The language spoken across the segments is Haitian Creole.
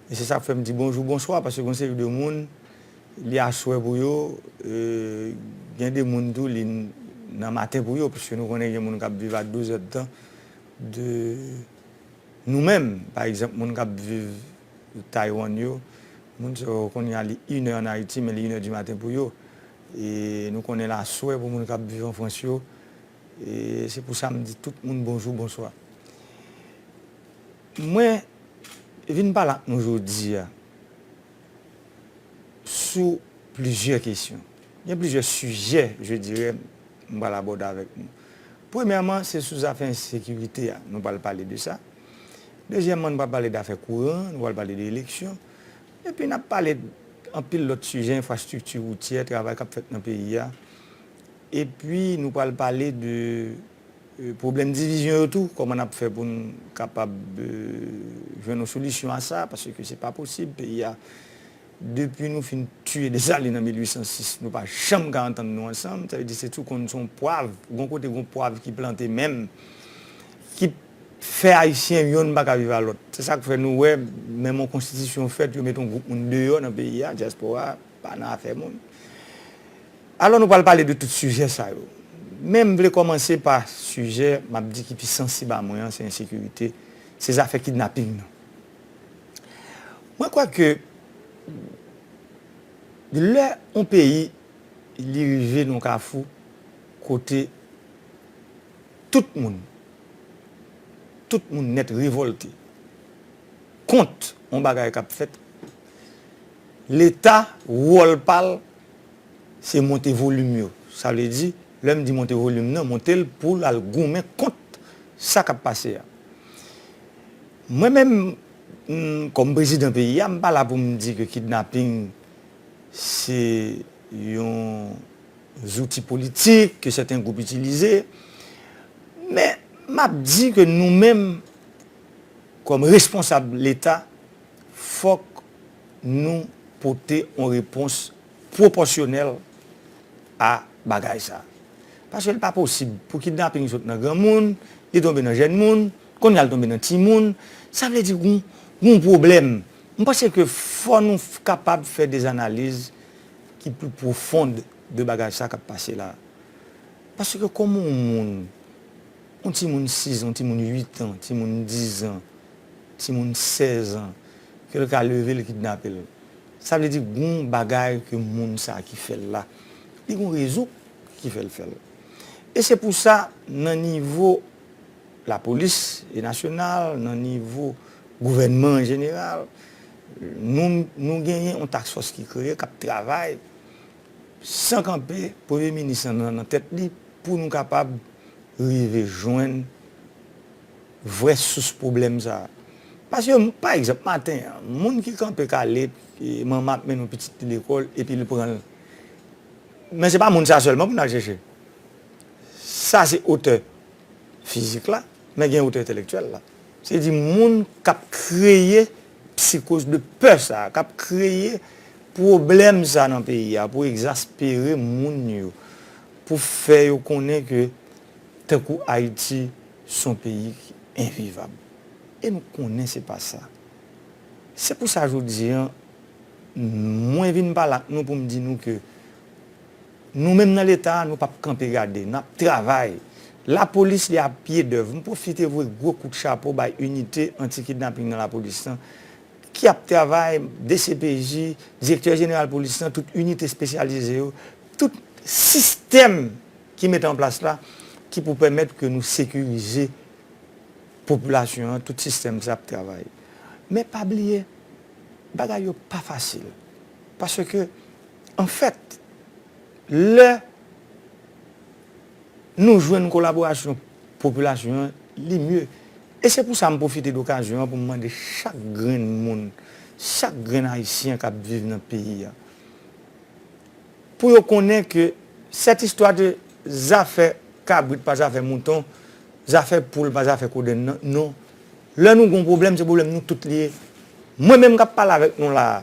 E se sa k fè m di bonjou bonswa paske gen yon seri de moun li aswè pou yo, gen de moun tou li nan maten pou yo piske nou konnen gen moun k ap viv a dezèdtan de nou menm. Pa egzanp moun k ap viv Taywann yo, moun sa yo kounye a li inè ann Ayiti men li inè dimaten pou yo. E nou konnen l aswè pou moun k ap viv an Frans yo E se pou sa m di tout moun bonjou, bonswa. Mwen vin pale ak nou jodi a sou plizyè kesyon. Gen plizyè sijè je dirè m pral abòde avèk nou. Premyèman, se sou zafè ensekirite a, nou pral pale de sa. Dezyèmman, nou pral pale dafè kouran, nou pral pale de eleksyon. Epi n ap pale anpil lòt sijè, enfrastrikti woutyè, travay k ap fèt nan peyi a. Epi nou pral pale de pwoblèm divizyon yo tou, kòman n ap fè pou n kapab jwenn yon solisyon a sa, paske se pa posib peyi a, depi nou fin tiye Desalin an 1806, nou pa janm ka antann nou ansanm, sa vle di se tou konn se yon pwav, gon kote gon pwav ki plante menm, ki fè Ayisyen yonn pa ka viv a lòt. Se sa k fè nou wè menm yon konstitisyon fèt, yo met yon gwoup moun deyò nan peyi a, dyaspora a. Pa nan afè moun. Alò nou pral pale de tout sijè sa yo. Men m vle kòmanse pa sijè m ap di ki pi sansib a mwen an, se ensekirite, se zafè kidnaping nan. Mwen kwè ke lè yon peyi li rive nan yon kafou kote tout moun, tout moun nèt revòlte, kont yon bagay kap fèt leta wòl pal se monte volim yo sa vle di lèm di monte volim nan montel poul al goumen kont sa kap pase a mwen menm kòm prezidan peyi a m pa la poum di ke kidnaping se yon zouti politik ke sèten gwoup itilize men map di ke nou menm Kòm responsab leta, fòk nou pote yon repons pwopòsyonèl a bagay sa. Paske li pa posib pou kidnaping sot nan granmoun, li tonbe nan jèn moun, kounye a li tonbe nan timoun. Sa vle di gen yon pwoblèm. M panse ke fò nou kapab fè des analiz ki pli pwofond de bagay sa k ap pase la. Paske kòman yon moun. Yon timoun 6 zan, yon timoun 8 tan, yon timoun 10 zan, yon timoun 16 zan, ke l ka leve l kidnape l. Sa vle di gon bagay ke moun sa ki fè l la, li gon rezon ki fè l fè l. E se pou sa nan nivo lapolis e nasyonal, nan nivo gouvènman an jeneral, nou nou genyen yon task fòs ki kreye k ap travay San kanpe premye minis lan nan tèt li pou nou kapab rive jwenn vrè sous pwoblèm sa a. Paske, pa egzanp, maten an, moun ki kanpe kale manman ap mennen yon pitit li lekòl epi li pran l. Men se pa moun sa sèlman pou n al chèche. Sa se otè fizik la, men gen otè entèlektyèl la. Se di moun k ap kreye psikoz de pè sa a, k ap kreye pwoblèm sa a nan peyi a pou egzaspere moun yo, pou fè yo konnen ke tankou Ayiti s on peyi ki envivab. E m konnen se pa sa. Se pou sa jodi an mwen vin pale ak nou pou m di nou ke. Nou menm nan leta a nou pap kanpe gade, nap travay. Lapolis li a pye dèv. M pwofite voye gwo kout chapo bay inite anti kidnaping nan lapolis lan ki ap travay, dcpj, direktè jeneral polis lan, tout inite espesyalize yo, tout sistèm ki mete an plas la ki pou pèmèt ke nou sekirize popilasyon an, tout sistèm sa ap travay. Men pa bliye bagay yo pa fasil paske. Anfèt, lè Nou jwenn kolaborasyon popilasyon an, li mye. E se pou sa m pwofite dokazyon an pou m mande chak grenn moun, chak grenn Ayisyen k ap viv nan peyi a, pou yo konnen ke sèt istwa de zafè kabrit pa zafè mouton, zafè poul pa zafè kodenn nan, non. Lè nou gen yon pwoblèm, se pwoblèm nou tout li ye. Mwen menm k ap pale avèk nou la a,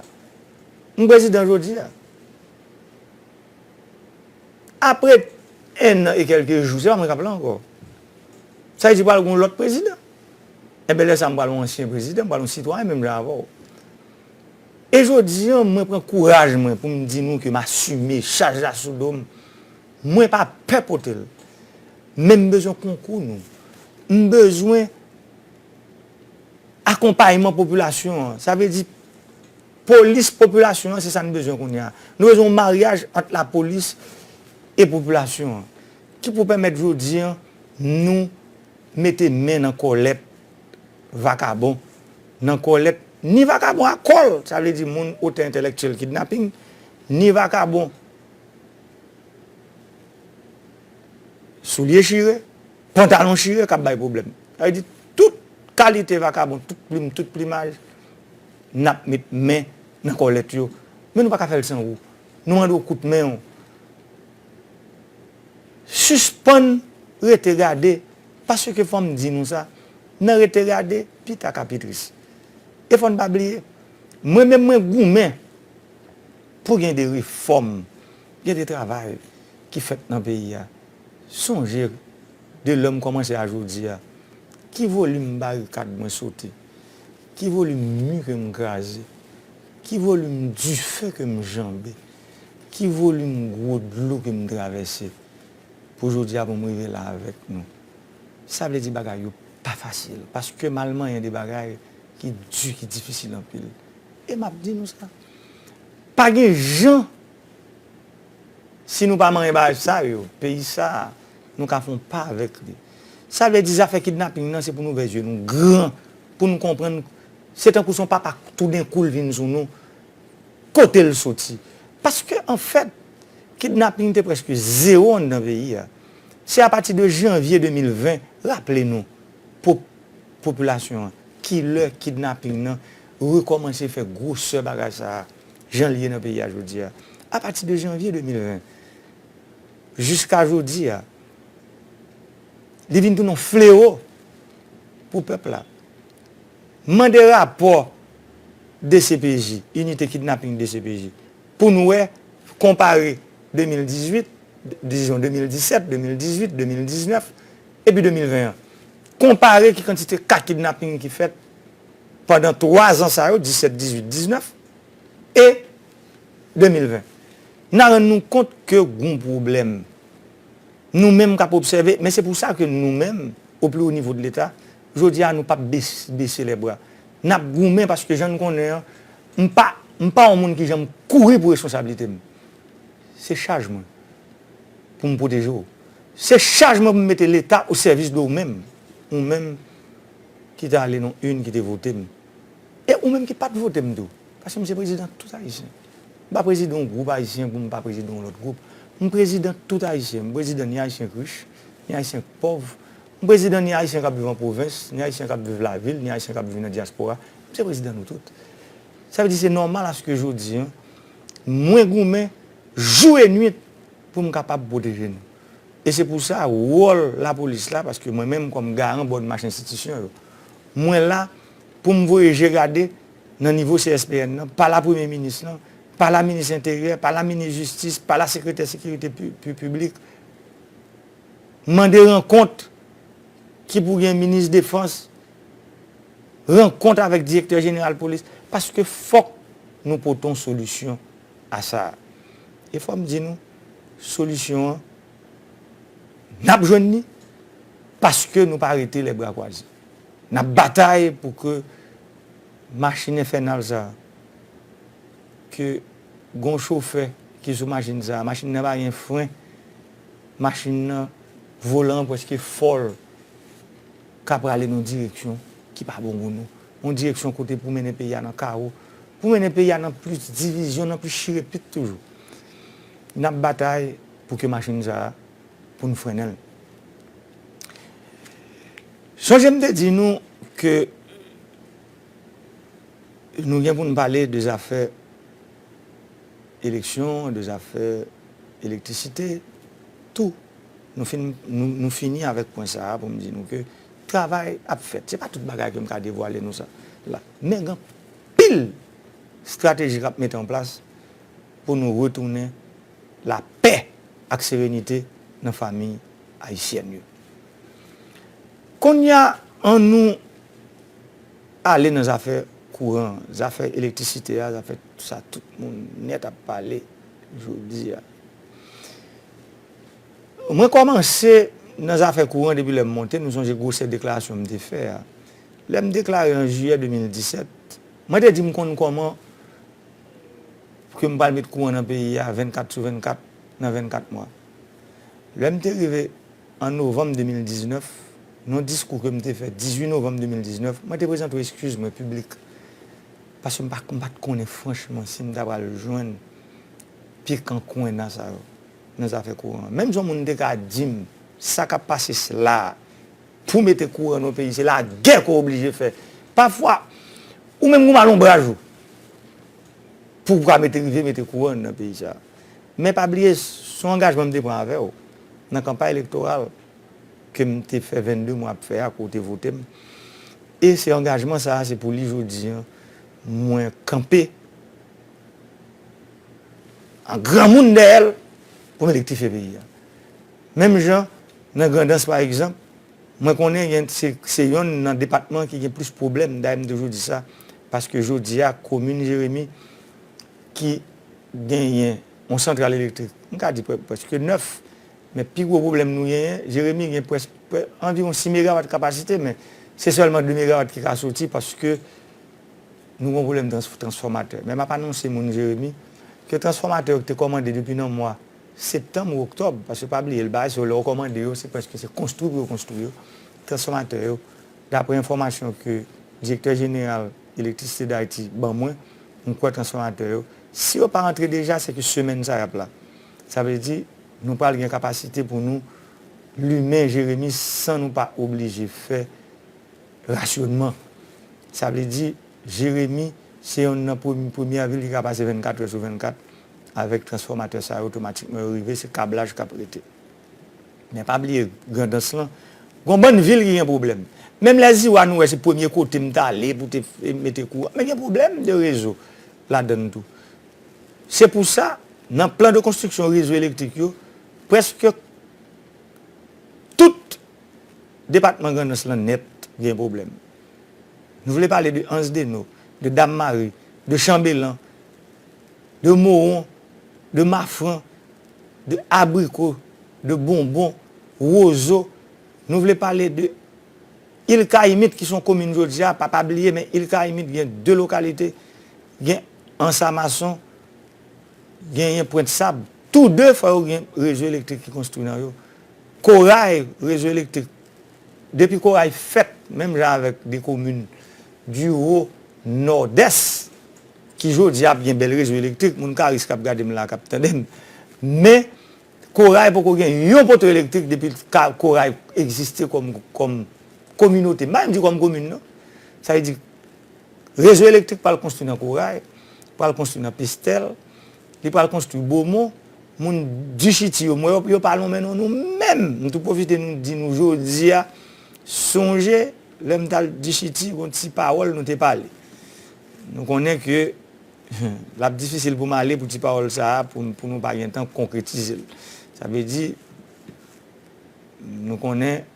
M prezidan jodi a. Apre 1 an e kelke jou, se pa mwen k ap la ankò. Sa vle di pral gen yon lòt prezidan. Enben lè sa m pral yon ansyen prezidan, m pral yon sitwayen menm jan avè w. E jodi an mwen pran kouraj mwen pou m di nou ke m asime chaj la sou do m. Mwen pa pè pote l. Men m bezwen konkou nou. M bezwen akonpayman popilasyon an. Sa vle di. Polis popilasyon an se sa n bezwen kounye a. Nou bezwen yon maryaj ant lapolis e popilasyon an ki pou pèmèt jodi an nou mete men nan kòlèt vakabon, nan kòlèt ni vakabon a kòl, sa vle di moun otè entèlèktyèl kidnaping, ni vakabon soulye chire, pantalon chire k ap bay pwoblèm. Sa vle di tout kalite vakabon, tout plim, tout plimaj. Nap met men nan kòlèt yo. Men nou paka fèl san ou. Nou mande w kout men w. Sispann rete gade. Paske fòm di nou sa. Nan rete gade, pi ta ka pi tris. E fòn pa bliye. Mwen menm mwen goumen. Pou gen de refòm. Gen de travay. Ki fèt nan peyi a. Sonje. De lèm kòmanse a jodi a. Ki volim barikad mwen sote. Ki volim mi ke m kraze? Ki volim dife ke m janbe? Ki volim gwo dlo ke m travèse? Pou jodi a pou m rive la avèk nou. Sa vle di bagay yo pa fasil. Paske m al manyen de bagay ki di, ki difisil anpil. E m ap di nou sa. Pa gen jan! Si nou pa manyen bagay sa yo, peyi sa a, nou ka fè yon pa avèk li. Sa vle di zafè kidnaping nan se pou n ouvè zye nou gran pou n konprann se tankou se yon papa toudenkou l vin sou nou, kote l soti. Paske anfèt, kidnaping te prèske zewo anndan peyi a. Se apati de janvye 2020, raple nou, pou popilasyon an, kilè kidnaping nan rekòmanse fè gwosè bagay sa a. jan l ye nan peyi a jodi a. Apati de janvye 2020 jiska jodi a, li vin tounen yon flewo pou pèp la. M mande rapò dcpj, Inite Kidnapping dcpj, pou n wè, konpare 2018, dizon 2017, 2018, 2019, epi 2020 an. Konpare ki kantite ka kidnapping ki fèt. pandan 3 zan sa yo, 17, 18, 19 e 2020. N a rann nou kont ke gon pwoblèm. Nou menm k ap obsève, men se pou sa ke nou menm, o pli wo nivo de leta, jodi a nou p ap bese lè bra. N ap goumen paske jan n konnen an, m pa, m pa yon moun ki janm kouri pou responsablite m. Se chaj mwen pou m pwoteje w. Se chaj mwen pou m mete leta o sèvis de ou menm, ou menm ki te ale non yn ki te vote m e ou menm ki pat vote m tou paske m se prezidan tout ayisyen m pa prezidan yon gwoup ayisyen pou m pa prezidan yon lòt gwoup m prezidan tout ayisyen m prezidan ni ayisyen k rich ni ayisyen k pòv m prezidan ni ayisyen k ap viv an pwovens ni ayisyen k ap viv lavil ni ayisyen k ap viv nan dyaspora m se prezidan nou tout sa vle di se nòmal aske jodi an mwen goumen jou e nwit pou m kapab pwoteje nou. E se pou sa, wòl lapolis la, paske mwen menm kòm garan bòn mach enstitisyon yo, mwen la pou m voye je gade nan nivo CSPN nan, pa la Premye Minis lan, pa la Minis Enteryè, pa la Minis Jistis, pa la Sekretè Sekirite Piblik, mande rankont ki pou gen Minis Defans, rankont avèk Direktè Jeneral Polis, paske fòk nou pote yon solisyon. a sa a. E fò m di nou, solisyon an, n ap jwenn li, paske nou pa rete lè bra kwaze. N ap batay pou ke machin enfènal sa a, ke gon chofè ki sou machin sa a, machin nan pa gen fren, machin nan, volan an pwèske fòl ka prale nan direksyon ki pa bon pou nou. Yon direksyon kote pou mennen peyi a nan kawo, pou mennen peyi a nan plis divizyon, nan plis chire pit toujou. N ap batay pou ke machin sa a, pou n frennen l. Sonje m te di nou ke nou gen pou n pale de zafè eleksyon, de zafè elektrisite, tou. Nou fini avèk pwen sa a pou m di nou ke. Travay ap fèt. Se pa tout bagay ke m ka devwale nou sa la. Men gen anpil strateji k ap mete an plas pou nou retounen lapè ak serenite nan famiy ayisyèn yo. Konnya an nou ale nan zafè kouran an, zafè elektrisite a, zafè sa tout moun nèt ap pale jodi a. Mwen kòmanse nan zafè kouran depi lè m monte, nou sonje gwosè deklarasyon m te fè a. Lè m deklare an jiyè 2017, mwen te di m konn kòman ke m pral met kouran nan peyi a 24 sou 24 nan 24 mwa. Lè m te rive an novanm 2019, nan diskou ke m te fè 18 novanm 2019, mwen te prezante yon eskiz mwen piblik paske m pa t konnen franchman si m ta pral jwenn pye kan kwenna sa yo. nan zafè kouran an. Menm si yon moun te ka di m sa k ap pase sla a pou mete kouran nan yon peyi se lagè ke w oblije fè. Pafwa ou menm gen yon malonbraj ou pou w ka mete rive mete kouran nan peyi sa a. Men pa bliye se yon angajman m te pran avè w nan kanpay elektoral ke m te fè 22 mwa ap fè a ke w te vote m. E se angajman sa a se pou li jodi an mwen kanpe. An granmoun dèyè l pou m elektrifye peyi a. Menm jan nan Grandans pa egzanp, mwen konnen gen se yonn nan depatman ki gen plis pwoblèm, dayè m toujou di sa, paske jodi a komin Jeremi ki genyen yon santral elektrik, m ka di prèske 9, men pi gwo pwoblèm nou genyen, Jeremi gen prèske anviwon 6 megawat kapasite men se sèlman 2 megawat ki ka soti paske Nou gen yon pwoblèm transfòmatè. Men m ap anonse moun Jeremi ke transfòmatè yo ki te kòmande depi nan mwa septanm ou oktòb, paske pa bliye l baze yo lè ou kòmande yo se prèske se konstwi pou yo konstwi yo, transfòmatè yo, daprè enfòmasyon ke Direktè Jeneral Elektrisite Dayiti ban mwen, m kwè transfòmatè yo, si yo pa antre deja se ke semèn sa y ap la. Sa vle di nou pral gen kapasite pou nou limen Jeremi san nou pa oblije fè Rasyonman, Sa vle di, Jeremi se yonn nan premye vil ki ka pase 24 è sou 24 avèk transfòmatè sa yo otomatikman yo rive se kablaj kap rete. Men pa bliye Grandans lan gon bann vil ki gen pwoblèm. Menm lè Ziwa nou wè se premye kote m t ale pou te mete kouran men gen pwoblèm de rezo ladann tou. Se pou sa nan plan de konstriksyon rezo elektrik yo prèske tout. Depatman Grandans lan nèt gen pwoblèm. Nou vle pale de Ansdeno, de Dammari, de Chanbelan, de Mowon, de Mafran, de Abriko, de Bonbon, Wozo, nou vle pale de Il Kayimit ki son komin jodi a, pa pa bliye men Il Kayimit gen 2 lokalite, gen Ansamason, genyen Pwent Sab. Tou 2 fò yo gen rezo elektrik ki konstwi nan yo. Koray rezo elektrik depi koray fèt menm jan avèk de komin di wo nòdès ki jodi a ap gen bèl rezo elektrik moun karis kap gade m la kap tande m men koray poko gen yon poto elektrik depi koray egziste kòm kòm kominote m pa menm di kòm komin non sa vle di rezo elektrik pral konstwi nan koray pral konstwi nan pestèl Li pral konstwi Bomo, moun Dishiti yo m wè yo pa lonmen non nou menm! M tou pwofite nou di nou jodi a sonje lè m t al Dishiti gon ti pawòl nou te pale. Nou konnen ke l ap difisil pou m ale pou ti pawòl sa a pou nou pa gen tan konkretize l. Sa vle di nou konnen.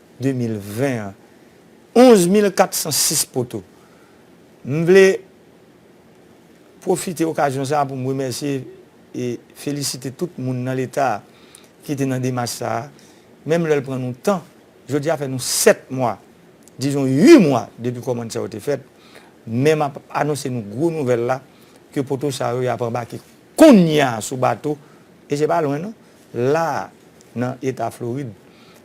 2020 an 11 mil 406 poto. M vle pwofite okazyon sa a pou m remèsye e felisite tout moun nan leta a ki te nan demach sa a menm lè l pran nou tan jodi a fè nou 7 mwa dizon 8 mwa depi kòmand sa yo te fèt men m ap anonse nou gwo nouvèl la ke poto sa yo y ap anbake Kounya sou bato, e se pa lwen non, la a nan eta Florid,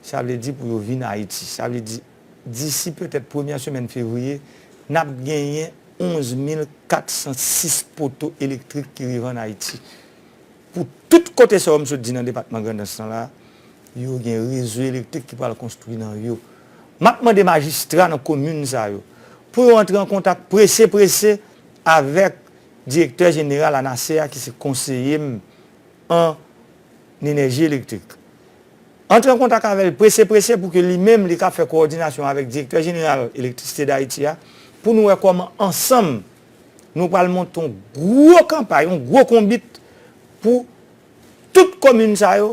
sa vle di pou yo vin Ayiti. Sa vle di, disi petèt premyè semèn fevriye, n ap genyen 11 mil 406 poto elektrik ki rive ann Ayiti. Pou tout kote sa yo m sot di nan depatman Grandans lan la a, yo gen rezo elektrik ki pral konstwi nan yo. M ap mande majistra nan komin sa yo, pou yo antre an kontak prese prese avèk Direktè jeneral ANASE a ki se konseye m an enèji elektrik. Antre an kontak avè l prese prese pou ke li menm li ka fè kowòdinasyon avèk Direktè jeneral Elektrisite Dayiti a pou nou wè kòman ansanm nou pral monte yon gwo kanpay, yon gwo konbit pou tout komin sa yo.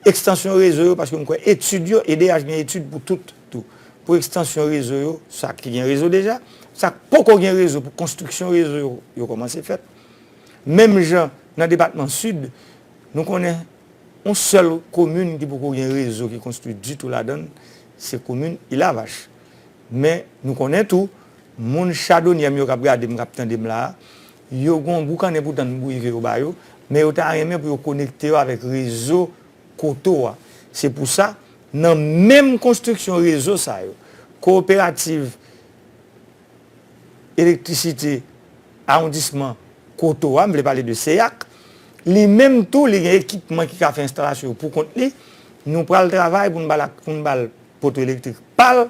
Ekstansyon rezo yo paske m kwè etid yo edh gen etid pou tout tou pou ekstansyon rezo yo sa ki gen rezo deja sa k poko gen rezo pou konstriksyon rezo yo yo kòmanse fèt menm jan nan depatman sid nou konnen yon sèl komin ki poko gen rezo ki konstwi ditou ladan l se komin ilavach men nou konnen tou moun chadonyè m yo k ap gade m k ap tande m la a Yo gen yon boukannen pou tann bwi ke yo ba yo, men yo ta renmen pou yo konekte yo avèk rezo koto a. Se pou sa, nan menm konstriksyon rezo sa yo, Kowoperativ Elektrisite Awondisman Koto a, m vle pale de CEAC, li menm tou li gen ekipman ki ka fè enstalasyon yo pou kont li, nou pral travay pou n ba l poto elektrik pa l,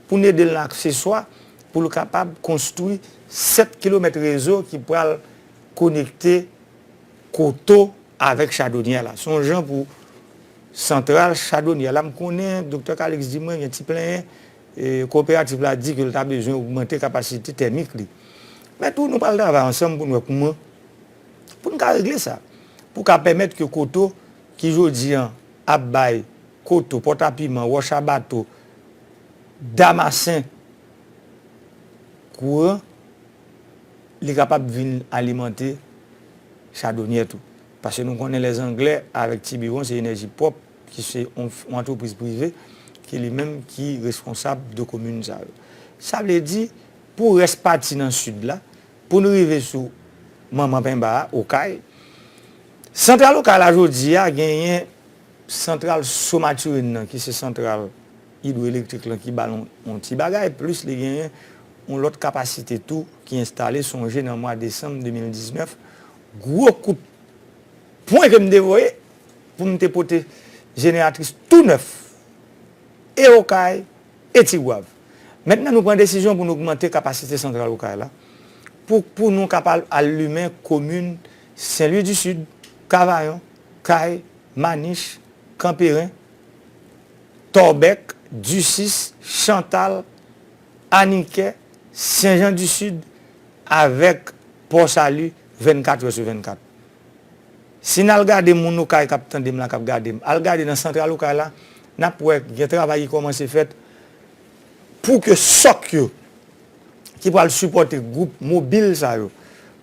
pou n ede l nan akseswa pou l kapab konstwi 7 kilomèt rezo ki pral konekte Koto avèk Chadonyè la. Se yon jan pou santral Chadonyè la, m konnen Doktè Kaliks di mwen gen ti plenyen, koperativ la di ke l ta bezwen ogmante kapasite tèmik li. Men tou nou pral travay ansanm pou n wè kouman pou n ka regle sa, pou ka pèmèt ke Koto ki jodi an ap bay. Koto, Pòtapiman, Wòch a Bato, Damasen, kouran li kapab vin alimante chadonyè tou. Paske nou konnen lè zanglè avèk Tibiwon se enèji pwòp ki se yon antrepriz prive ki li menm ki responsab de komin sa yo. Sa vle di pou rès pati nan sid la pou nou rive sou manman penba a, Okay, santral Okay la jodi a genyen. Santral So Mathurin nan ki se santral idwoelektrik lan ki ba l yon ti bagay plis li genyen yon lòt kapasite tou ki enstale sonje nan mwa desanm 2019 gwo kout pwen ke m te voye pou m te pote jeneratris tou nèf e Okay e Tigwav mentnan nou pran desizyon pou nou ogmante kapasite santral Okay la pou pou nou kapab al limen komin Senlwi di Sid Kavayon. Kay, Manich, Kanperen, Tòbèk, Disis, Chantal, Anikè, Sen Jan di Sid avèk Pò Sali 24 è sou 24. Si n al gade moun Okay k ap tande m la, k ap gade m, al gade nan santral Okay la, n ap wè gen travay ki kòmanse fèt pou ke sòk yo ki pral sipòte gwoup mobil sa yo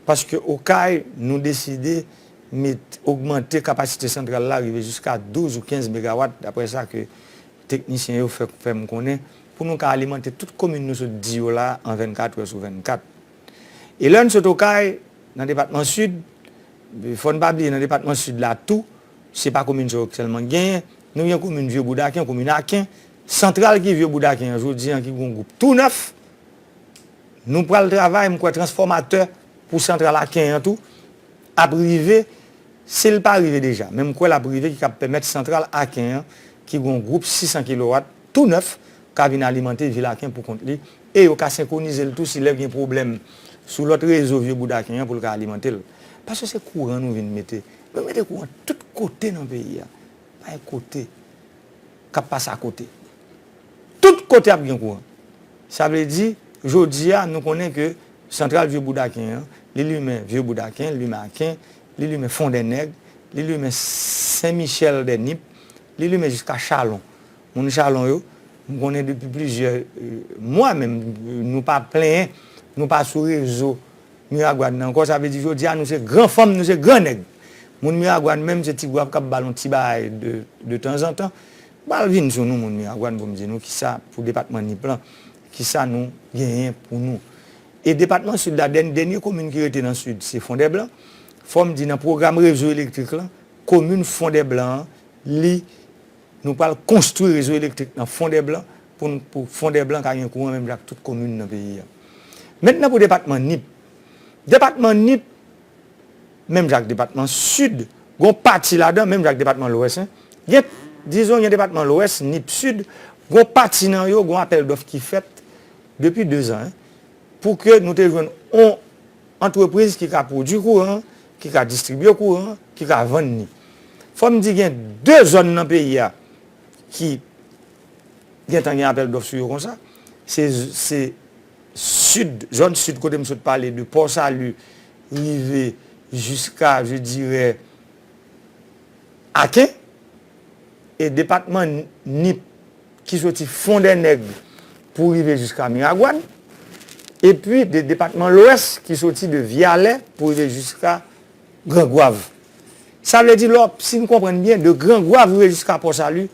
paske Okay nou deside met ogmante kapasite santral la rive jiska 12 ou 15 megawat, daprè sa ke teknisyen yo fè fè m konnen, pou nou ka alimante tout komin nou sot di yo la an 24 è sou 24. E lè n sot Okay, nan depatman Sid, fò n pa bliye nan depatman Sid la tou, se pa komin sa yo sèlman ki genyen, nou gen komin Vye Boudaken, komin Aken, santral ki Vye Boudaken an jodi an ki gen yon gwoup tou nèf, Nou pral travay, m kwè transfòmatè pou santral Aken an tou ap rive, si l pa rive deja, men m kwè l ap rive ki kab pèmèt santral Aken an ki gen yon gwoup 600 kilowat tou nèf ka vin alimante vil Aken pou kont li e yo ka senkonize l tou si lè gen pwoblèm sou lòt rezo vye boud Aken an pou l ka alimante l. Paske se kouran nou vin mete. Nou mete kouran tout kote nan peyi a. Pa gen kote k ap pase akote. Tout kote ap gen kouran. Sa vle di, jodi a, nou konnen ke santral Vye Bouda Aken an, li limen Vye Bouda Aken, li limen Aken, li limen Fon dè Nèg, li limen Sen Michèl dè Nip, li limen jiska Chalon. Moun Chalon yo, m konnen depi plizyè mwa menm, nou pa plenyen, nou pa sou rezo Miragwàn nan ankò. Sa vle di jodi a, nou se gran fanm, nou se gran nèg. Moun Miragwàn menm, se ti gwaf k ap ba l yon ti bagay de tanzantan. Pral vin sou nou moun Miragwàn pou m di nou kisa pou depatman Nip lan, kisa nou genyen pou nou. E depatman Sid la dèn dènye komin ki rete nan Sid se Fondèblan. Fò m di nan pwogram rezo elektrik lan, komin Fondèblan an li nou pral konstwi rezo elektrik nan Fondèblan pou n pou Fondèblan ka gen kouran menm jan ak tout komin nan peyi a. Mentnan pou depatman Nip. Depatman Nip. menm jan ak depatman Sid, gon pati ladan menm jan ak depatman Lwès, gen, dizon gen depatman Lwès, Nip, Sid, gon pati nan yo gon apèl dòf ki fèt depi 2 zan pou ke nou te jwenn on antrepriz ki ka pwodui kouran, ki ka distribye kouran, ki ka vann ni. Fò m di gen 2 zòn nan peyi a ki gentan gen apèl dòf sou yo konsa, se, se. Sid, zòn sid kote m sot pale de Pò Sali rive jiska je dirè Aken. E depatman Nip ki soti Fondènèg pou rive jiska Miragwàn. Epi de depatman Lwès ki soti de Vyalè pou rive jiska Grangwav. Sa vle di lò, si n konprann byen, de Grangwav rive jiska Pò Sali,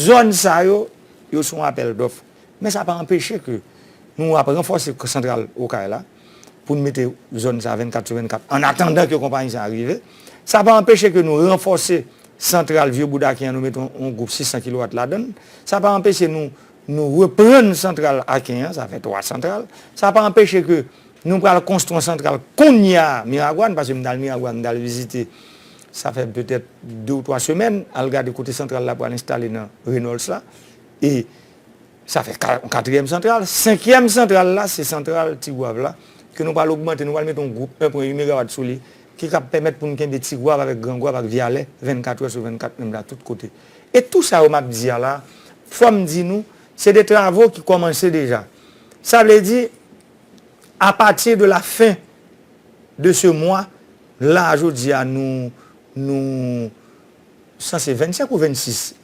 zòn sa yo, yo se yon apèl dòf. Men sa pa anpeche ke nou ap ranfòse santral Okay la pou nou mete zòn sa 24 sou 24 an atandan ke konpayi sa rive. Sa pa anpeche ke nou ranfòse santral Vye Boudakin an nou mete yon gwoup 600 kilowat ladann. Sa pa anpeche nou nou reprann santral Aken an, sa fè 3 santral. Sa pa anpeche ke nou pral konstwi yon santral kounya Miragwàn, paske m t al Miragwàn, m t al vizite sa fè petèt 2 ou 3 semèn, al gade kote santral la pral enstale nan Renols la. E sa fè yon katriyèm santral. Senkyèm santral la se santral Tigwav la ke nou pral ogmante, nou pral mete yon gwoup 1.8 megawat sou li ki kab pèmèt pou nou kenbe Tigwav avèk Grangwav ak Vyalè 24 trè sou 24 menm jan ak tout kote. E tou sa yo m ap di a la, fò m di nou, se de travo ki kòmanse deja. Sa vle di, a pati de la fen de se mwa, la a jodi a nou, nou. Sa se 25 ou 26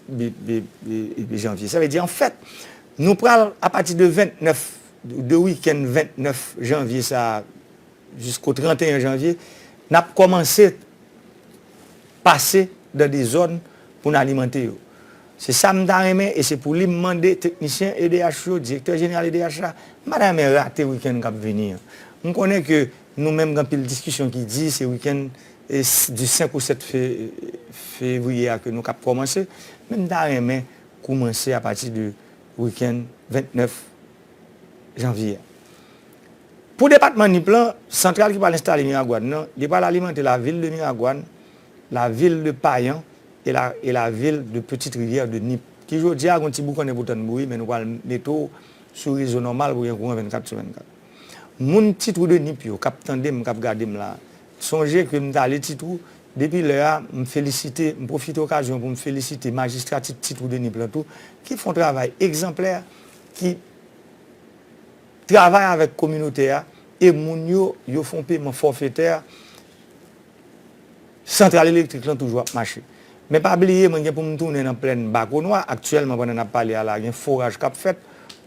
janvye. Sa vle di an fèt nou pral a pati de 29, de wikenn 29 janvye sa a jisko 31 janvye, n ap kòmanse pase dan de zòn pou n alimante yo. Se sa m ta renmen e se pou li m mande teknisyen edh yo, direktè jeneral edh la, m pa ta renmen rate wikenn k ap vini an. M konnen ke Nou menm gen anpil diskisyon ki di se wikenn du 5 ou 7 fevriye a ke nou kab kòmanse, men m ta renmen koumanse a pati de wikenn 29 janvye a. Pou depatman Nip lan, santral ki pral enstale Miragwàn nan, li pral alimante lavil de Miragwàn, lavil de Payan e lavil de Petite Rivière de Nip, ki jodi a gen yon ti boukannen pou tann bouyi men nou pral mete w sou rezo nòmal pou gen kouran 24 sou 24. Moun ti twou de nip yo kap tande m kap gade m la sonje ke m t ale ti twou depi lè a m felisite m pwofite okazyon pou m felisite majistrati ti twou de nip lan tou ki fon travay egzanplè ki travay avèk kominote a e moun yo yo fon peman fòfetè Santral elektrik lan toujou ap mache. Men pa bliye mwen gen pou m tounen nan plèn Bakonwa, aktyèlman pandan n ap pale a la gen foraj k ap fèt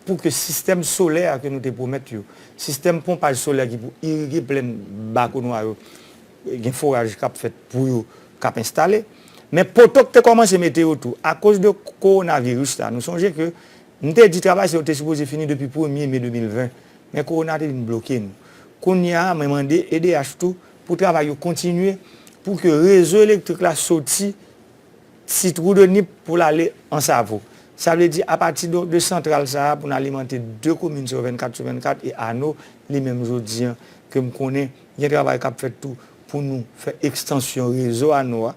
pou ke sistèm solè a ke nou te pwomèt yo, sistèm ponpaj solè ki pou irige plèn Bakonwa yo, gen foraj k ap fèt pou yo k ap enstale. Men poto k te kòmanse mete yo tou. Akoz de kowonaviris la, nou sonje ke m te di travay sa yo te sipoze fini depi premye me 2020, men kowona te vin bloke nou. Kounye a mwen mande edh tou, Pou travay yo kontinye pou ke rezo elektrik la soti Ti Twou de Nip pou l ale Ansavo. Sa vle di apati de santral sa a pou n alimante 2 komin sa yo 24 sou 24 e Ano li menm jodi an ke m konnen gen travay k ap fèt tou pou nou fè ekstansyon rezo Ano a.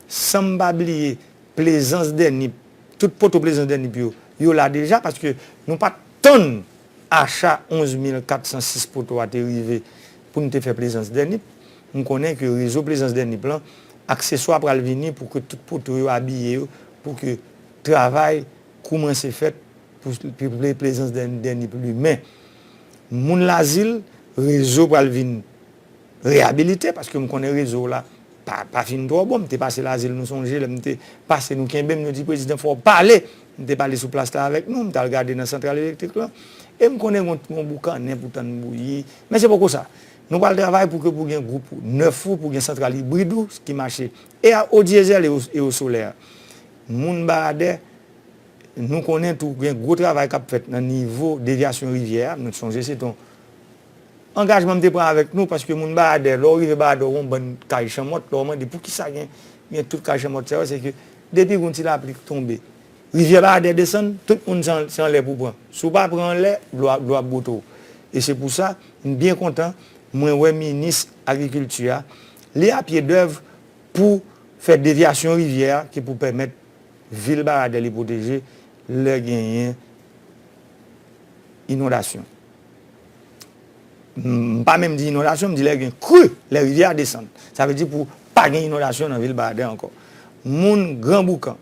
San m pa bliye Plezans dè Nip, tout poto Plezans dè Nip yo, yo la deja paske nou pa t tann Acha 11406 poto a te rive pou n te fè plezans dè nip. M konnen ke rezo plezans dè nip lan, akseswa pral vini pou ke tout poto yo abiye yo pou ke travay koumanse fèt pou plezans dè nip limen. Moun Lazil, rezo pral vin. Reyabilite paske m konnen rezo w la pa fin twò bon. M te pase Lazil nou sonje lè m te pase nou kenbe m nou di prezidan fò w pale. M te pale sou plas la avèk nou, m t al gade nan santral elektrik lan e m konnen gen yon boukannen pou tann bouyi. Men se poko sa. Nou pral travay pou ke pou gen gwoup nèf ou, pou gen santral ibrid ou ki mache e a odyezèl e o solè. Moun Baradè, nou konnen tou gen gwo travay k ap fèt nan nivo devyasyon rivyè a. Nou sonje se te yon. Angajman m te pran avèk nou paske moun Bayadè, lè w rive Bayadè w wè yon bann kay chanmòt, lè w mande poukisa gen gen tout kay chanmòt sa yo se ke depi yon ti lapli k tonbe, rivyè Bayadè desann, tout moun se an se anlè pou w pran. Si w pa pran anlè, dlo a dlo a ap bwote w. E se pou sa, m byen kontan mwen wè minis agrikilti a, li a pye dèv pou fè devyasyon rivyè a ki pou pèmèt vil Bayadè li pwoteje lè genyen inondasyon. M pa menm di inondasyon, m di lè gen kri, lè rivyè a desann. Sa vle di pou pa gen inondasyon nan vil Baden ankò. Moun Gran Boukan,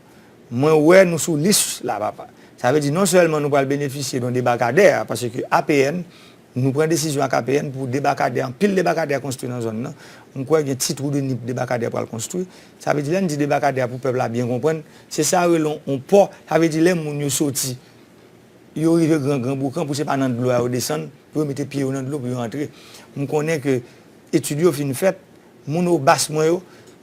mwen wè nou sou lis la papa. Sa vle di non sèlman nou pral benefisye don debakadè, paske APN, nou pran desizyon ak APN pou debakadè, anpil debakadè konstwi nan zòn nan. M kwè gen ti twou de nip debakadè pral konstwi. Sa vle di lè n di debakadè a pou pèp la byen konprann, se sa yo rele yon pò, sa vle di lè moun yo soti. Yo rive gran gran boukan pou se pa nan dlo a yo desann pou yo mete pye yo nan dlo pou yo antre. M konnen ke etid yo fin fèt, moun obas mwen yo,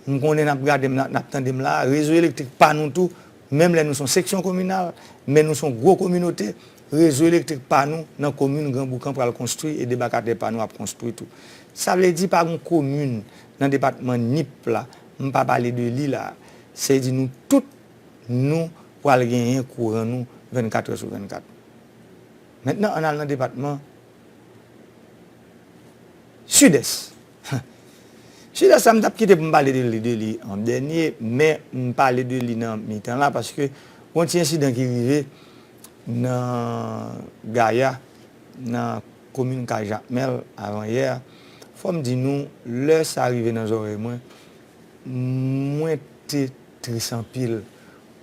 m konnen n ap gade m la, n ap tande m la a, rezo elektrik pa nou tou, menm lè nou son seksyon kominal, men nou son gwo kominote, rezo elektrik pa nou nan komin gran boukan pral konstwi e debakadè pa nou ap konstwi tou. Sa vle di pa gon komin nan depatman Nip la m pa pale de li la a. Se di nou tout nou. pral genyen kouran nou 24 è sou 24. Mentnan ann al nan depatman Sidès. Sidès la m tap kite pou m pale de li de li an dènye men m pale de li nan mitan la paske gon ti ensidan ki rive nan Gaya nan komin Kay Jakmèl avan yè a. Fò m di nou lè sa rive nan zòrèy mwen, mwen te tris anpil.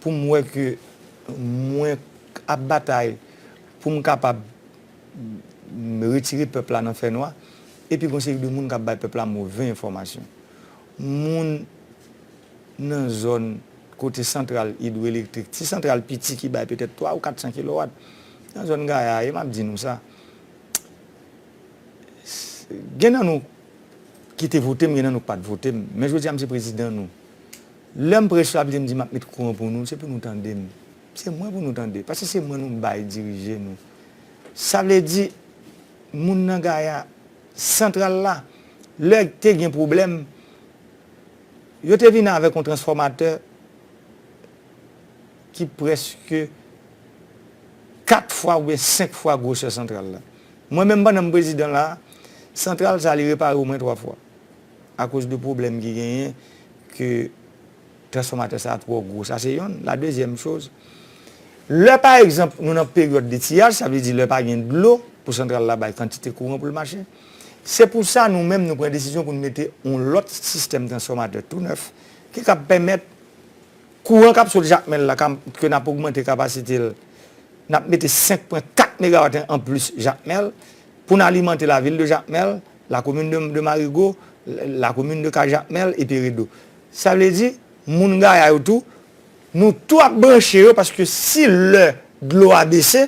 poum wè ke mwen ap batay poum kapab retire pèp la nan fè nwa epi gon seri de moun kap bay pèp la move enfòmasyon. Moun nan zòn kote santral idwoelektrik, ti santral piti ki bay petèt 3 ou 400 kilowat nan zòn Gaya e map di nou sa gen nan nou ki te votem gen nan nou ki pat votem men jodi a m se prezidan nou. Lèm prèch lap dim di map met kouran pou nou se pou nou tandem se mwen pou nou tande paske se mwen nou bay dirije nou sa vle di moun nan gaya santral la lè te gen pwoblèm yo te vin avèk yon transfòmatè ki prèske 4 fwa oubyen 5 fwa gwosè santral la mwen menm pandan m prezidan la santral sa li repare omwen 3 fwa akoz de pwoblèm ki genyen ke transfòmatè sa a twò gwo. Sa se yonn. La dezyèm choz, lè pa egzanp nou nan peryòd de tiyaj, sa vle di lè pa gen dlo pou santral la bay kantite kouran pou l mache, se pou sa nou menm nou pran desizyon pou nou mete yon lòt sistèm transfòmatè tou nèf ki kab pèmèt kouran k ap sot Jakmèl la ke n ap ogmante kapasite l, n ap mete 5 pwen 4 megawatt anplis Jakmèl pou n alimante lavil de Jakmèl. La commune de Marigot, la commune de Cajakmel et Peredo. Sa vle di, moun Gaya yo tou, nou tou ap branche yo paske si lè dlo a bese,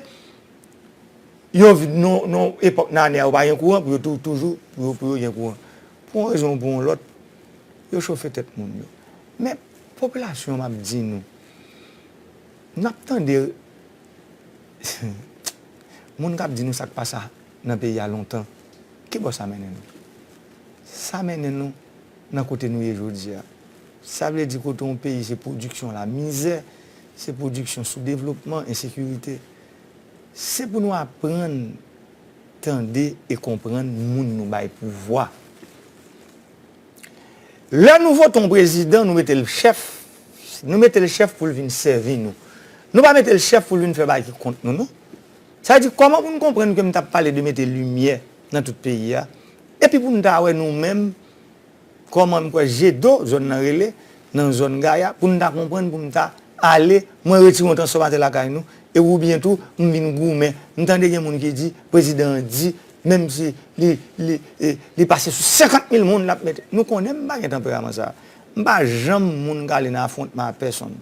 yon epòk nan ane a yo pa gen kouran pou yo tou toujou pou yo gen kouran. Pou yon rezon ou pou yon lòt, yo chofe tèt moun yo. Men, popilasyon m ap di nou, n ap tande moun k ap di nou sa k pa sa. nan peyi a lontan, ki bò sa mennen nou? Sa mennen nou nan kote nou ye jodi a. Sa vle di kote yon peyi se pwodiksyon lamizè, se pwodiksyon soudevlopman, ensekirite. Se pou nou aprann tande e konprann moun nou bay pouvwa. Lè nou vote yon prezidan, nou mete l chèf, nou mete l chèf pou l vin sèvi nou. Nou pa mete l chèf pou l vin fè bagay ki kont nou non. Sa vle di kòman pou n konprann ke m t ap pale de mete limyè nan tout peyi a, epi pou n ta wè nou menm kòman m kwè Jedo zòn nan rele, nan zòn Gaya, pou n ta konprann pou m ta ale mwen retire yon transfòmatè lakay nou, e oubyen tou m vin goumen. M tande gen moun ki di prezidan an di menm si li li li pase sou 50 mil moun l ap mete. Nou konnen m pa gen tanperaman sa a. M pa janm moun k ale nan afwontman ak pèsonn.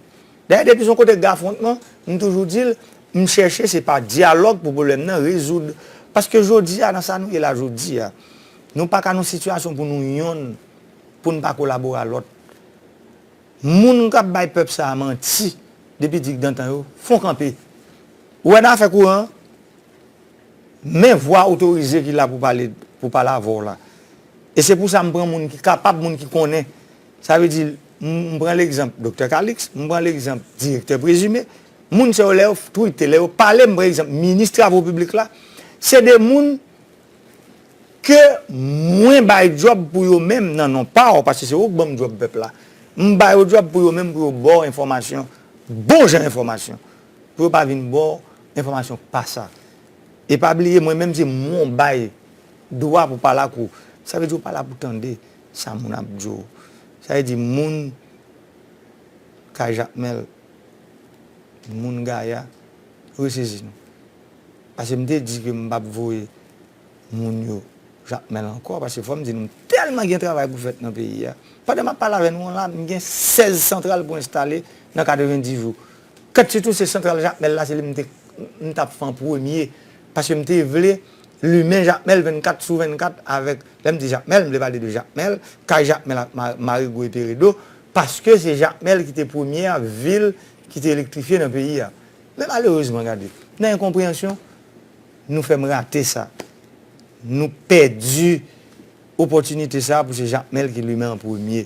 Dayè depi s on kote k gen afwontman, m toujou di l, M chèche se pa dyalòg pou pwoblèm nan rezoud. Paske jodi a nan sa nou ye la jodi a, nou pa ka nan sitiyasyon pou nou yonn pou n pa kolabore a lòt. Moun k ap bay pèp sa a manti depi dikdantan yo, fon kanpe. Ou wè nan afè kouran an, men vwa otorize ki la pou pale pou pale avè w la. E se pou sa m pran moun ki kapab, moun ki konnen. Sa vle di, m pran legzanp Doktè Kaliks, m pran legzanp Direktè Prezime, Moun sa yo lè yo tweete, lè yo pale m prexanp minis travo piblik la, se de moun ke mwen bay djòb pou yo menm nan non pa w, paske se ou k ban m djòb pèp la, m ba yo djòb pou yo menm pou yo ba w enfòmasyon, bon jan enfòmasyon, pou yo pa vin ba w enfòmasyon k pa sa. E pa bliye mwen menm se mwen w bay dwa pou pale ak ou, sa vle di ou pa la pou tande sa moun ap di w. Sa vle di moun kay Jakmèl. moun gaya resezi nou pase m te di ke m pap voye moun yo jakmel ankò pase fòm di nou m tèlman gen travay pou fèt nan peyi a pandan map pale avè nou an la m gen 16 santral pou enstale nan 90 jou kant sitou se santral jakmel la se li m tap fè an premye pase m te vle limen jakmel 24 sou 24 avèk lè m di jakmel m vle pale de jakmel kay jakmel ak marigou e peredo Paske se Jakmèl ki te premye a vil ki te elektrifye nan peyi a. Men malerezman gade, nan enkonpreyansyon, nou fè m rate sa. Nou pèdi opòtinite sa pou se Jakmèl ki limen an premye.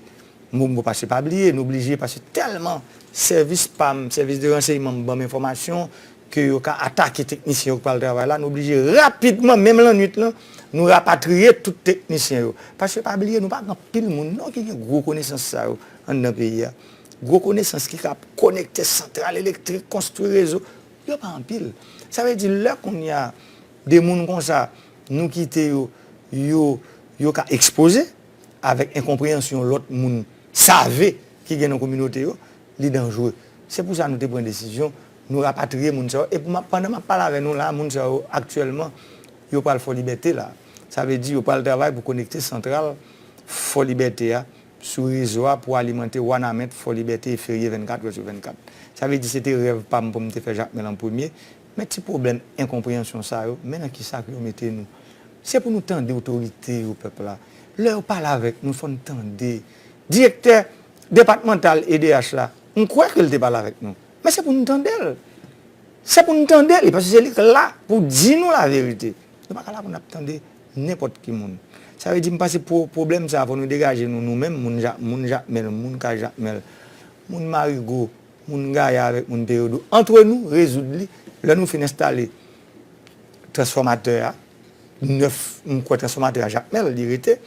M bon pa se pa bliye, nou blije pase tèlman sèvis pa m, sèvis de ranseyman m ban m enfòmasyon ke yo ka atake teknisyen yo k pral travay la, nou oblije rapidman, menm lannwit lan, nou rapatriye tout teknisyen yo. Paske pa bliye, nou pa gen anpil moun non ki gen gwo konesans sa yo anndan peyi a. Gwo konesans ki ka konekte santral elektrik, konstwi rezo, yo pa anpil. Sa vle di lè kounye a, de moun konsa, nou kite yo, yo, yo ka ekspoze, avèk enkonpreyansyon lòt moun save ki gen nan kominote yo, li danjre. Se pou sa nou te pran desizyon Nou rapatriye moun sa yo e pandan map pale avè nou la moun sa yo aktyèlman yo pral Fò Libète la. Sa vle di yo pral travay pou konekte santral Fò Libète a sou rezo a pou alimante Wanament, Fò Libète e Ferye 24 wè sou 24. Sa vle di se te rèv pam pou m te fè Jakmèl an premye. Men ti pwoblèm enkonpreyansyon sa yo, men nan kisa pou yo mete nou. Se pou nou tande otorite yo pèp la. Lè yo pale avèk nou fò n tande. Direktè depatmantal edh la, m kwè ke l te pale avèk nou. Men se pou nou tande l. Se pou nou tande li, paske se li k la pou di nou la verite. Nou pa ka la pou nap tande nenpòt ki moun. Sa vle di m panse pwoblèm sa a fò nou degaje nou nou menm moun ja, moun jakmèl, moun ka jakmèl, moun marigo, moun gaya avèk moun peyodo antre nou rezoud li lè nou fin enstale transfòmatè a. 9 m kwè transfòmatè a jakmèl li rete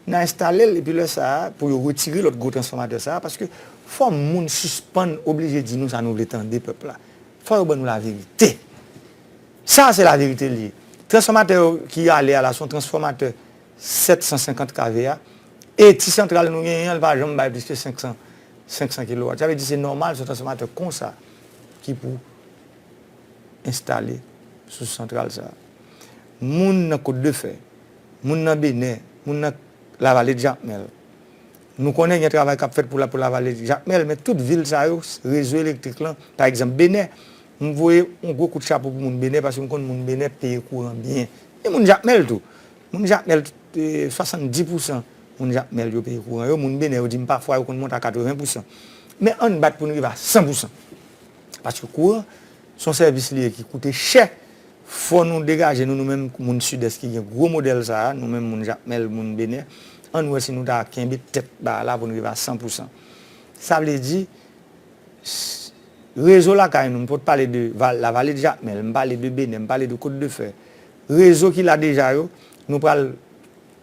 nan enstale l epi lè sa a pou yo retire lòt gwo transfòmatè sa a paske fò moun sispann oblije di nou sa nou vle tande pèp la fò yo ban nou laverite sa a se laverite li ye transfòmatè yo ki ale a la son transfòmatè 750 kv a e ti santral nou genyen an li pa janm bay plis ke 500 500 kilowat sa vle di se nòmal son transfòmatè konsa ki pou enstale sou santral sa a. moun nan Kot de Fè, moun nan Benè, moun nan Lavale de Jakmèl. Nou konnen gen travay k ap fèt pou Lavale de Jakmèl, men tout vil sa yo, rezo elektrik lan, pa egzanp Benè, m voye yon gwo kout chapo pou moun Benè paske m konn moun Benè peye kouran byen. E moun Jakmèl tou. Moun Jakmèl, 70 pousan moun Jakmèl yo peye kouran yo, moun Benè yo di m pafwa yo konn monte a 80 pousan. Men ann bat pou n rive a 100 pousan. Paske kouran s on sèvis li ye ki koute chè Fò nou degaje nou nou menm moun sidès ki gen gwo modèl sa a, nou menm moun Jakmèl, moun Benè, ann wè si nou ta kenbe tèt ba a la pou n rive a san pou san. Sa vle di, rezo lakay nou, m pot pale de Lavaledjakmèl, m pale de Benè, m pale de Kotdefè, rezo ki la deja yo, nou pral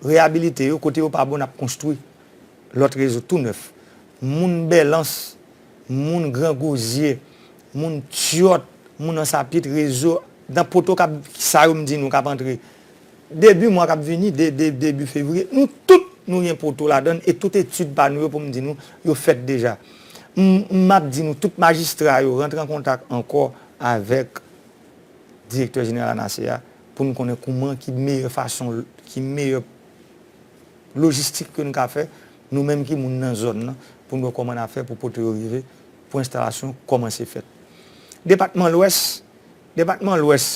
reyabilite yo, kote yo pa bon n ap konstwi lòt rezo tou nèf. Moun Bèlans, moun gran gozye, moun tyòt, moun ansapit, rezo, dan poto kap sa yo m di nou kap antre debi mwa kap vini, debi fevriye, nou tout nou gen poto ladann e tout etid pa nou yo pou m di nou yo fèt deja. M map di nou tout majistra yo rantre an kontak ankò avèk direktè jeneral ANASEA pou n konnen kouman ki meyè fason ki meyè. lojistik ke n ka fè, nou menm ki moun nan zòn nan, pou n wè kòman n a fè pou pote yo rive, pou enstalasyon kòmanse fèt. Depatman Lwès, Depatman Lwès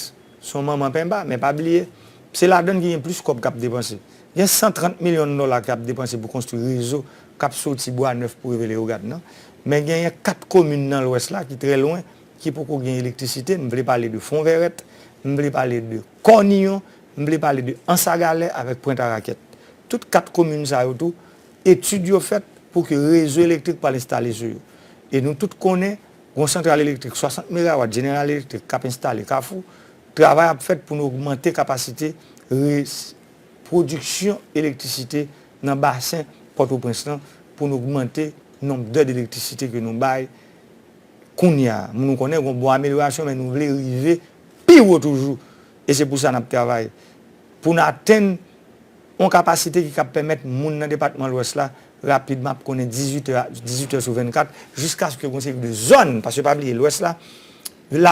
se yon manman penba, men pa bliye, se ladan n ki gen plis kòb k ap depanse. Gen 130 milyon dòla ki ap depanse pou konstwi rezo k ap soti Bwa Nèf pou rive Leyogàn nan, men genyen 4 komin nan Lwès la ki trè lwen, ki poko gen elektrisite, m vle pale de Fonvèrèt, m vle pale de. Kòniyon, m vle pale de Ansagalè avèk Pwent a Rakèt. Tout 4 komin sa yo tou, etid yo fèt pou ke rezo elektrik pwal enstale sou yo. E nou tout konnen, gon santral elektrik 60 megawat General Electric k ap enstale Kafou, travay ap fèt pou nou ogmante kapasite res pwodiksyon elektrisite nan basen Pòtoprens lan, pou nou ogmante nonb dè d'elektrisite ke nou bay kounya. Nou konnen gon bon amelyorasyon men nou vle rive pi wo toujou e se pou sa n ap travay pou n atenn yon kapasite ki kab pèmèt moun nan depatman Lwès la rapidman ap konnen 18 è a 18 è sou 24 jiskaske gen yon seri de zòn paske pa bliye Lwès la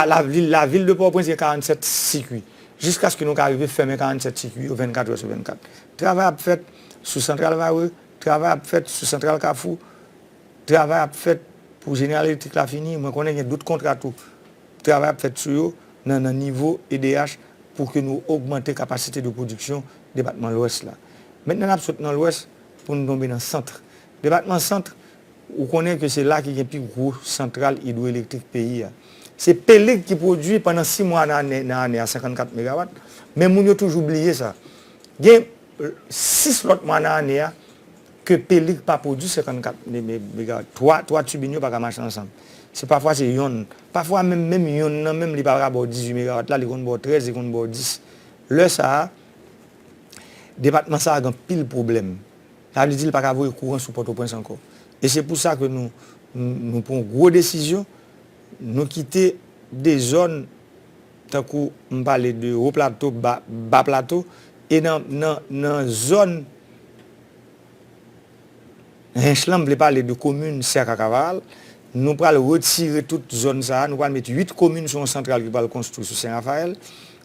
lavil lavil de Pòtoprens gen 47 sikui jiskaske nou ka rive fèmen 47 sikui yo 24 è sou 24 travay ap fèt sou santral Varreux travay ap fèt sou santral Kafou. Travay ap fèt pou General Electric la fini, mwen konnen gen dout kontra tou. Travay ap fèt sou yo nan nan nivo edh pou ke nou ogmante kapasite de pwodiksyon depatman Lwès la. Mentnan n ap sot nan Lwès pou nou tonbe nan Centre. Depatman Centre, ou konnen ke se la ki gen pi gwo santral idwoelektrik peyi a. Se Pelig ki pwodui pandan 6 mwa nan ane nan ane a 54 megawat, men moun yo toujou bliye sa. Gen 6 lòt mwa nan ane a Ke pelig pa pwodwi 54 mega watt. 3 3 tubin yo pa ka mache ansanm. Se pafwa se yonn. Pafwa menm menm yonn nan menm li pa ka ba w 18 mega watt la, li konn ba w 13, li konn ba w 10. Lè sa a, depatman sa a gen anpil pwoblèm. Sa vle di li pa ka voye kouran sou Pòtoprens ankò. E se pou sa ke nou nou pran gwo desizyon, nou kite de zòn tankou m pale de Wo Plato, Ba Plato e nan nan nan zòn. Hinche lan m vle pale de komin Sèk ak Avaral, nou pral retire tout zòn sa a, nou pral met 8 komin sou yon santral ki pral konstwi sou Sen Rafayèl,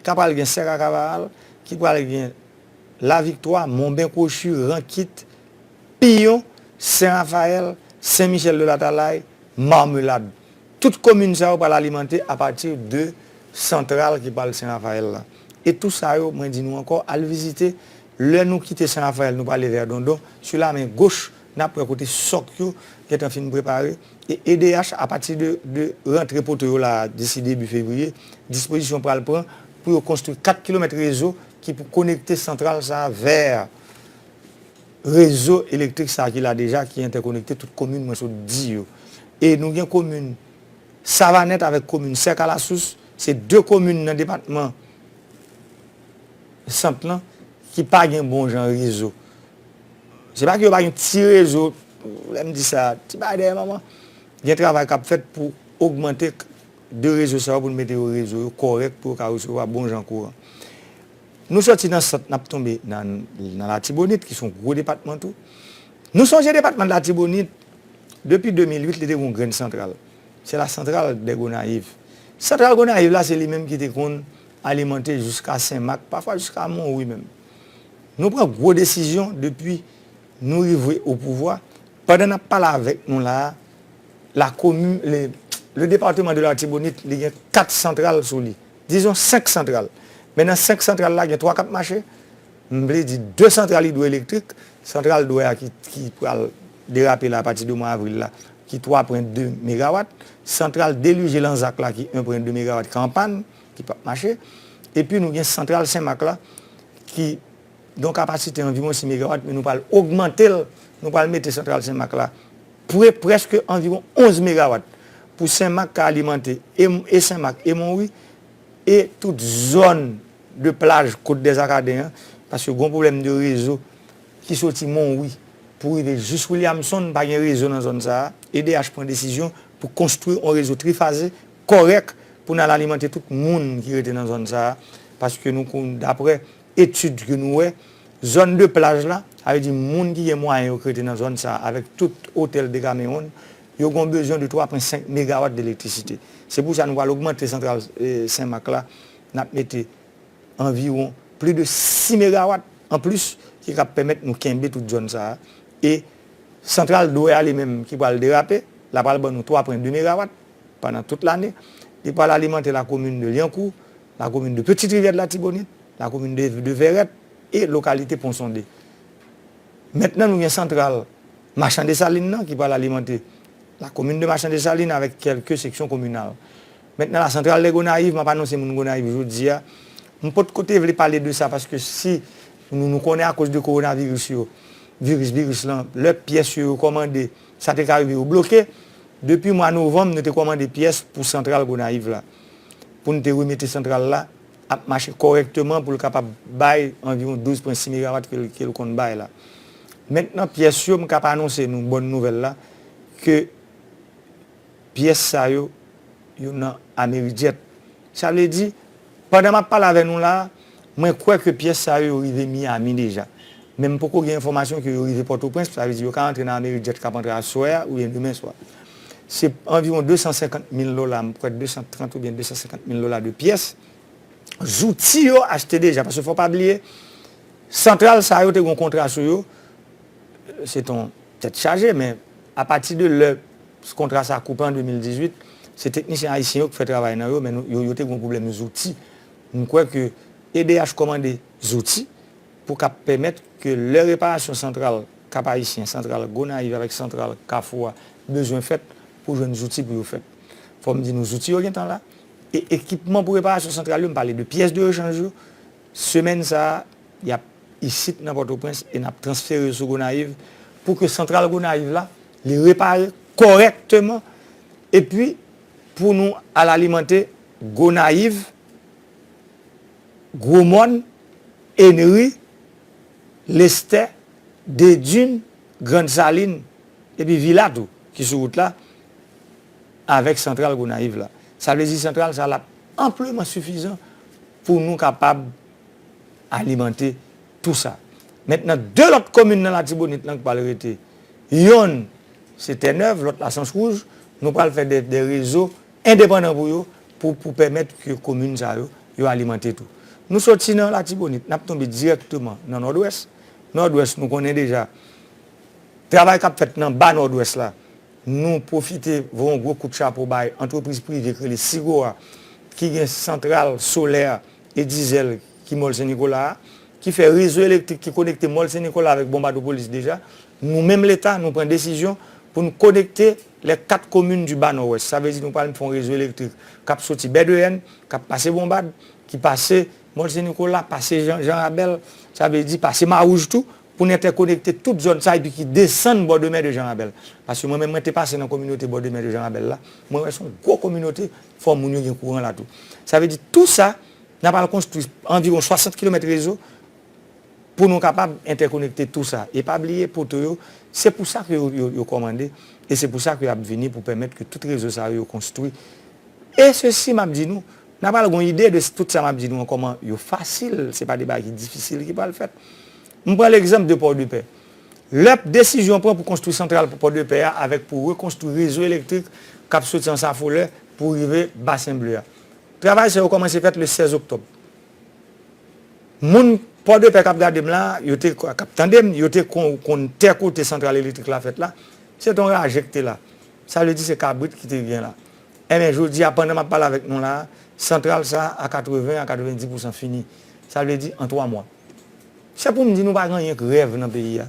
ta pral gen Sèk ak Avaral, ki pral gen Laviktwa, Monben Kwochi, Rankit, Piyon, Sen Rafayèl, Sen Michèl de Latalay, Marmelad. Tout komin sa yo pral alimante apati de santral ki pral Sen Rafayèl lan. E tou sa yo, mwen di nou ankò, al vizite. Lè nou kite San Rafael nou prale vè Dondon, sou la men goch nap wè kote sòk yo gentan fin prepare e edh apati de rantre poto yo la disi debi fevriye, dispozisyon pral pran pou yo konstri 4 kilomèt rezo ki pou konekte santral sa vè rezo elektrik sa ki la deja ki entèkonekte tout komin mwen sot di yo e nou gen komin Savanèt avèk komin Sèkalasous se 2 komin nan depatman sant lan ki pa gen bon jan rezo. Se pa ke yo pa gen ti rezo, lè m di sa, ti bagay dèyè manman. Gen travay k ap fèt pou ogmante de rezo sa yo pou nou mete yo rezo yo kòrèk pou yo ka resevwa bon jan kouran. Nou soti nan sant n ap tonbe nan Latibonit ki se yon gwo depatman tou. Nou sonje depatman de Latibonit depi 2008 li te gen yon grenn santral. Se la santral dè Gonayiv. Santral Gonayiv la se li menm ki te konn alimante jiska Sen Mak, pafwa jiska Monwi menm. Nou pran gwo desizyon depi nou rive o pouvwa, pandan nap pale avèk nou la a, la komin, le, le departeman de l'Artibonite li gen 4 santral sou li, dizon 5 santral, men nan 5 santral la gen 3 kap mache, m vle di 2 santral idwoelektrik, santral dwè a ki pral derape la apati de mwa avril la ki 3 pren 2 megawat, santral delije Lanzak la ki 1 pren 2 megawat ki an pàn. ki pap mache, epi nou gen santral Senmak la ki gen yon kapasite anviwon 6 megawat men nou pral ogmante l, nou pral mete santral Senmak la pre prèske anviwon 11 megawat pou Senmak ka alimante e Senmak e Monwi e tout zòn de plaj Kot Dèzakaden an, paske gon pwoblèm de rezo ki soti Monwi pou rive jis Williamson, pa gen rezo nan zòn sa a, edh pran desizyon pou konstwi yon rezo trifaze. kòrèk pou n al alimante tout moun ki rete nan zòn sa a paske nou konn daprè etid ke nou wè zòn de plaj la sa vle di moun ki gen mwayen yo ki rete nan zòn sa a avèk tout otèl Decameron yo gen yon bezwen de 3 pwen 5 megawat de elektrisite se pou sa nou pral ogmante santral Sen Mak la n ap mete anviwon pli de 6 megawat an plis ki ka pèmèt nou kenbe tout zòn sa a e santral Dwè a li menm ki pral derape la pral ban nou 3 pwen 2 megawat. pandan tout lane. Li pral alimante lakomin de Lyankou, lakomin de Petite Rivière de l'Artibonite, lakomin de Vèrèt e lokalite Pon Sonde. Mentnan nou gen santral Machan Desalin nan ki pral alimante lakomin de Machan Desalin avèk kèlke seksyon kominal. Mentnan la santral de Gonayiv, m ap anonse moun Gonayiv jodi a, m pot ko te vle pale de sa paske si nou konnen akoz de kowonaviris yo, viris viris lan, lè pyès yo yo kòmande Sa te ka rive yo bloke. Depi mwa novanm nou te kòmande pyès pou santral Gonayiv la. Pou n te remete santral la ap mache kòrèkteman pou l kapab bay anviwon 12 pwen 6 megawat ke l konn bay la. Mentnan pyès yo m kab anonse nou bòn nouvèl la ke pyès sa yo yo nan Amerijet. Sa vle di. Pandan map pale avè nou la, mwen kwè ke pyès sa yo yo rive Miami deja. Men m poko gen enfòmasyon ke yo rive Pòtoprens, sa vle di yo ka antre nan amerik djèt kap antre aswè a oubyen demen swa. Se anviwon 250 mil dola, m kwè 230 oubyen 250 mil dola de pyès zouti yo achte deja. Paske fò pa bliye, santral sa yo te gon kontra sou yo, se ton tèt chaje men apati de lè. Kontra sa koupe an 2018, se teknisyen ayisyen yo ki fè travay nan yo men yo te gen yon pwoblèm zouti. M kwè ke edh kòmande zouti pou kap pèmèt ke lè reparasyon santral Kap Ayisyen, santral Gonayiv avèk santral Kafou a bezwen fèt pou jwenn zouti pou yo fèt. Fò m di nou zouti yo gen tan la e ekipman pou reparasyon santral yo, m pale de pyès de rechanj yo, semèn sa a yap isit nan Pòtoprens e nap transfere yo sou Gonayiv pou ke santral Gonayiv la Li repare kòrèkteman epi pou nou al alimante Gonayiv, Gwo Mòn, Enri, Lestè, Dedin, Grand Salin epi Vila tou ki sou wout la avèk santral Gonayiv la. Sa vle di santral sa lap anpleman sifizan pou nou kapab alimante tou sa. Mentnan 2 lòt komin nan Latibonit lan k pral rete. Yonn se tè nèv, lòt la sans wouj. Nou pral fè de rezo endepandan pou yo, pou pèmèt ke komin sa yo, yo alimante tou. Nou soti nan Latibonit, n ap tonbe dirèkteman nan Nòdwès. Nòdwès nou konnen deja, travay k ap fèt nan ba Nòdwès la, nou pwofite voye yon gwo kout chapo bay antrepriz prive k rele Sigowa, ki gen santral solè e dizèl. ki Mòl Sen Nikola a, ki fè rezo elektrik ki konekte Mòl Sen Nikola avèk Bonbadopolis deja, nou menm Leta, nou pran desizyon pou n konekte lè 4 komin di Ba Nòwès. Sa vle di nou pral fè yon rezo elektrik k ap soti Bèdeyèn, k ap pase Bonbad, ki pase Mòl Sen Nikola, pase Jan, Jan Rabèl, sa vle di pase Mawouj tou, pou n entèkonekte tout zòn sa epi ki desann bò de mè de Jan Rabèl. Paske mwen menm mwen te pase nan kominote bò de mè de Jan Rabèl la, mwen wè se yon gwo kominote, fò moun yo gen kouran la tou. Sa vle di tou sa, N ap al konstwi anviwon 60 kilomèt rezo pou nou kapab entèkonekte tou sa. E pa bliye poto yo, se pou sa ke yo kòmande e se pou sa ke y ap vini pou pèmèt ke tout rezo sa yo yo konstwi. E sesi m ap di nou, n ap al gon ide de tout sa m ap di nou an kòman yo fasil, se pa de bagay ki difisil ki pral fèt. M pran legzanp de Pòdepè. Lè desizyon pran pou konstwi santral pou Pòdepè a avèk pou rekonstwi rezo elektrik k ap soti Ansafolè pou rive Basen Ble a. Travay sa yo kòmanse fèt le 16 oktòb. Moun Pòdepè k ap gade m la, yo te, k ap tande m, yo te kon konn tè kote santral elektrik la fèt la, se te yon raje ki te la. Sa vle di se kabrit ki te gen la. Enben, jodi a, pandan m ap pale avèk nou la a, santral sa a 80 a 90 pousan fini. Sa vle di an twa mwa. Se pou m di nou pa gen anyen k rèv nan peyi a.